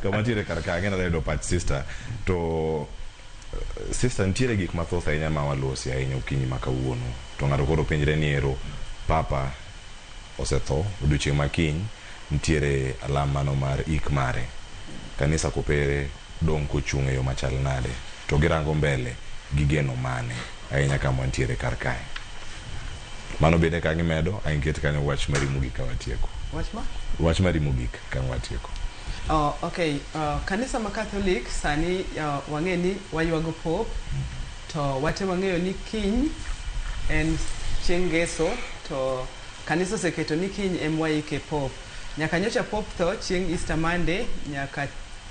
to mantiere kar ka ang'ena dayudo pach sister to eh, sister nitiere gik mathoth ahinya ma walosi ahinya okinyi ma kawuono to ng'ato koro penjre ni ero papa osetho odiochieng' ma kiny nitiere alam mano mar ik mare kanisa kopere dong' kochung' e yo machal nade to girango mbele gi geno mane ahinya kama wantiere kar kae mano bende ka gimedo angiket kanyo wach mari mogik ka watieko Wach ma? wach mari mogik Okang' mar tieko. Oh, okay. Uh, kanisa ma Catholic sani uh, wang'e ni waywago pop to wate wang'eyo ni kiny en chieng' ngeso to kanisa oseketo ni kiny em waike pop. Nyaka nyocha pop tho chieng' Easter Monday nyaka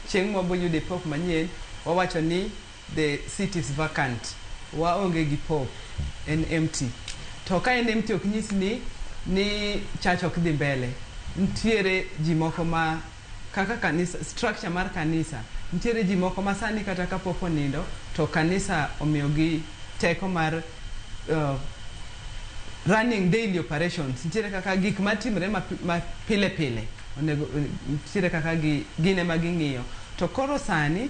chieng' mwaboyude pop manyien wawacho ni the seat is vacant, waonge gi pope, en empty. To ka en empty ok nyis ni ni church ok dhi mbele. Nitiere ji moko ma kaka kanisa, structure mar kanisa, nitiere ji moko ma sani kata ka pope onindo to kanisa omiyogi teko mar uh, running daily operations. Nitiere kaka gik matimre ma, ma pile pile onego nitiere kaka gi, gine ma ging'iyo. To koro sani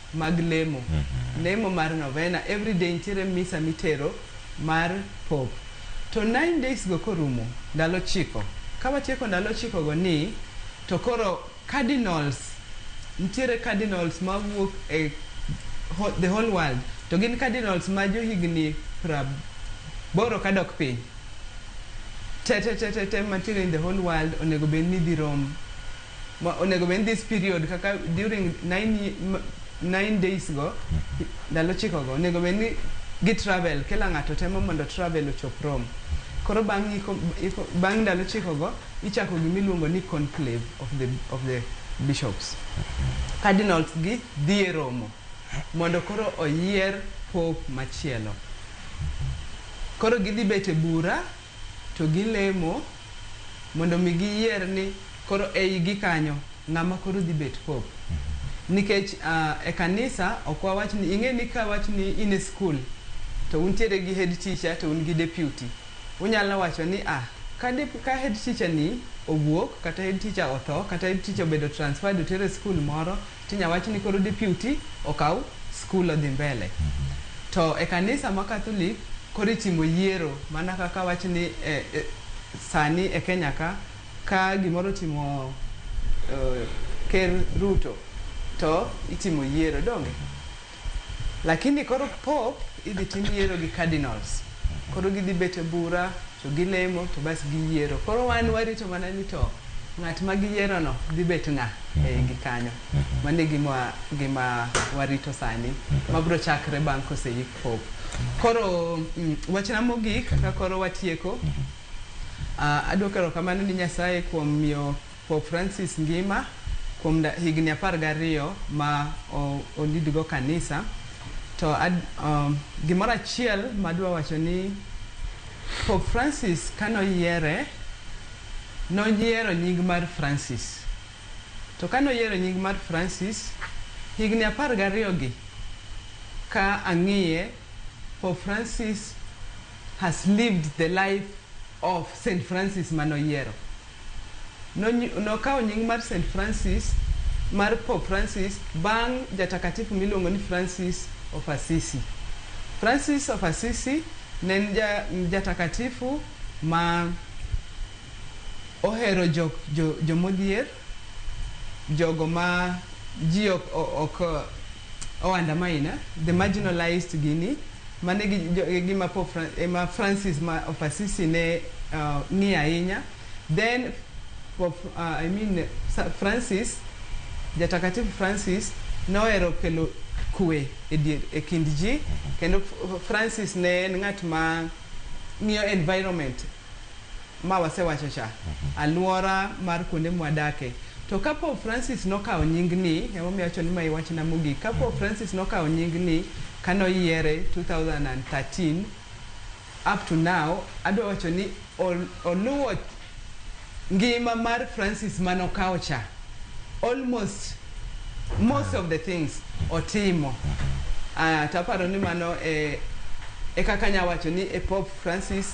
mag lemo, lemo mar novena everyday nitiere misa mitero mar pope to nine days go korumo ndalo chiko kawatieko ndalo chiko go ni to koro cardinals nitiere cardinals mawuok e ho- the whole world to gin cardinals ma johigni praboro kadok piny tetetetete mantiere in the whole world onego bed ni dhi rom ma onego bed ni this period kaka during nine, nine days go ndalo chiko go onego bed ni gi travel kila ng'ato temo mondo travel ochop Rome koro bang' iko, iko, bang' ndalo chiko go ichako gimiluongo ni conclave of the, of the bishops cardinals gi dhi e romo mondo koro oyier pope machielo koro gidhi bet e bura to gilemo mondo mi giyier ni koro ei gi kanyo ng'ama koro dhi bet pope. Nikech e kanisa ok wawach ni ing'e ni ka wach ni in e skul to untiere gi head teacher to un gi deputy. Unyalo wacho ni a ka de ka head teacher ni owuok kata head teacher otho kata head teacher obedo transferred otere skul moro tinya wach ni koro deputy okaw school odhi mbele. To e kanisa ma Catholic koro itimo yiero mana kaka wach ni eh, eh, sani e Kenya ka ka gimoro otimo eh, ker Ruto to itimo yiero donge? Lakini koro pope idhi tim yiero gi cardinals koro gidhi bet e bura to gilemo to bas giyiero koro wan warito mana ni to ng'at ma giyiero no dhi bet ng'a e igi kanyo mano e gima gima warito sani mabro chakre bang' koseyik pope koro mm, wachna mogik ka koro watieko Ah, aduoko erokamano ni Nyasaye kuom miyo Pope Francis ngima kuom higni apar gariyo ma olid go kanisa to gimoro achiel madwa wacho ni Pope Francis kane oyiere noyiero nying mar Francis to kane oyiero nying mar Francis higni apar gariyo gi ka ang'iye Pope Francis has lived the life of Saint Francis mane oyiero. Nokawo nying mar Saint Francis mar Pope Francis bang' jatakatifu miluongo ni Francis of Assisi. Francis of Assisi ne en jatakatifu ma ohero jomodhier. jogo ma ji ok ok o undermine eh, the marginalized gini mane gi jo- e gima po Fran- e ma Francis ma of Assisi ne uh, ng'iyo ahinya then Pope, uh, I mean Sa- Francis jatakatifu Francis nohero kelo kwe e dier e kind ji kendo F- Francis ne en ng'at ma ng'iyo environment ma wasewachocha, alwora mar kuonde mwadakie. To ka Pope Francis nokawo nying ni, emomiyo awacho ni ma e wachna mogik, ka Pope Francis nokawo nying ni ka noyiere 2013 up to now, adwa wacho ni oluwo ngima mar Francis ma nokawo cha. Almost most of the things otimo. To aparo ni mano e kaka anya wacho ni e Pope Francis.